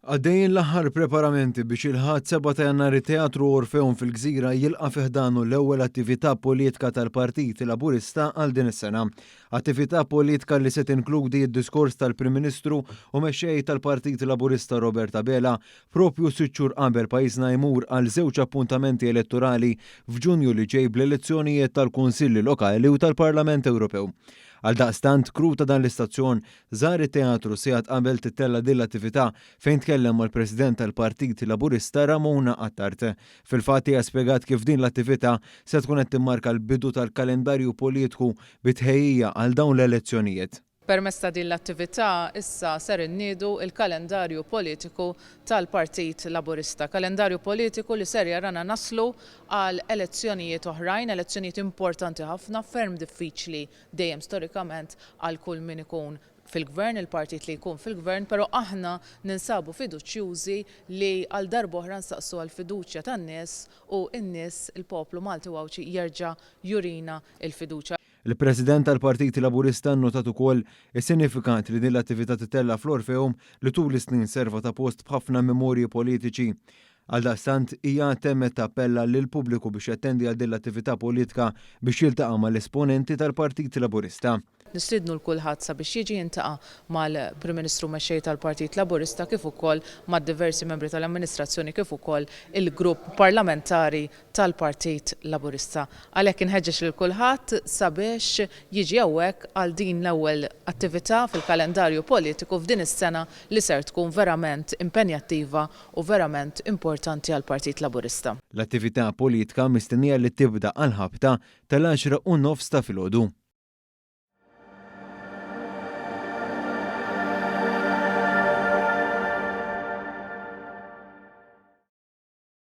Għaddejjin l-aħħar preparamenti biex il-Ħadd 7 ta' Jannar it-Teatru Orfeum fil-Gżira jilqa' fi ħdanu l-ewwel attività politka tal-Partit Laburista għal din is-sena. Attività politka li se tinkludi d-diskors tal-Prim Ministru u Mexxej tal-Partit Laburista Robert Abela propju sitt xhur qabel pajjiżna jmur għal żewġ appuntamenti elettorali f'Ġunju li ġej bl-elezzjonijiet tal-Kunsilli Lokali u tal-Parlament Ewropew. Għaldaqstant, crew ta' dan l-istazzjon Żar it-teatru sigħat qabel tittella' din l-attività fejn tkellem mal-President tal-Partit Laburista Ramona Attard. Fil-fatt hija spjegat kif din l-attività se tkun qed timmarka l-bidu tal-kalendarju politku bi tħejjija għal dawn l-elezzjonijiet. Permezz ta' din l-attività issa ser inniedu l-kalendarju politiku tal-Partit Laburista. Kalendarju politiku li ser jarana naslu għal elezzjonijiet oħrajn, elezzjonijiet importanti ħafna, ferm diffiċli dejjem storikament għal kull min ikun fil-Gvern, il-partit li jkun fil-Gvern, però aħna ninsabu fiduċjużi li għal darb'oħra nsaqsu għall-fiduċja tan-nies u n-nies, il-poplu Malti u Għawdxi jerġa' jurina l-fiduċja. Il-President tal-Partit Laburista nnotat ukoll is-sinifikat li din l-attività titella' fl-Orpheum li tul is-snin serva ta' post b'ħafna memorji politiċi. Għaldaqstant, hija għad temmet tappella lill-pubbliku biex jattendi għal din l-attività politika biex jiltaqa' mal-esponenti tal-Partit Laburista. Nistiednu 'l kulħadd sabiex jiġi jintaqa' mal-Prim Ministru u Mexxej tal-Partit Laburista kif ukoll ma' diversi membri tal-amministrazzjoni kif ukoll il-Grupp Parlamentari tal-Partit Laburista. Għalhekk inħeġġeġ lil kulħadd sabiex jiġi hawnhekk għal din l-ewwel attività fil-kalendarju politiku f'din is-sena li ser tkun verament impenjattiva u verament importanti għall-Partit Laburista. L-attività politka mistennija li tibda għall-ħabta tal-għaxra u nofs ta' filgħodu.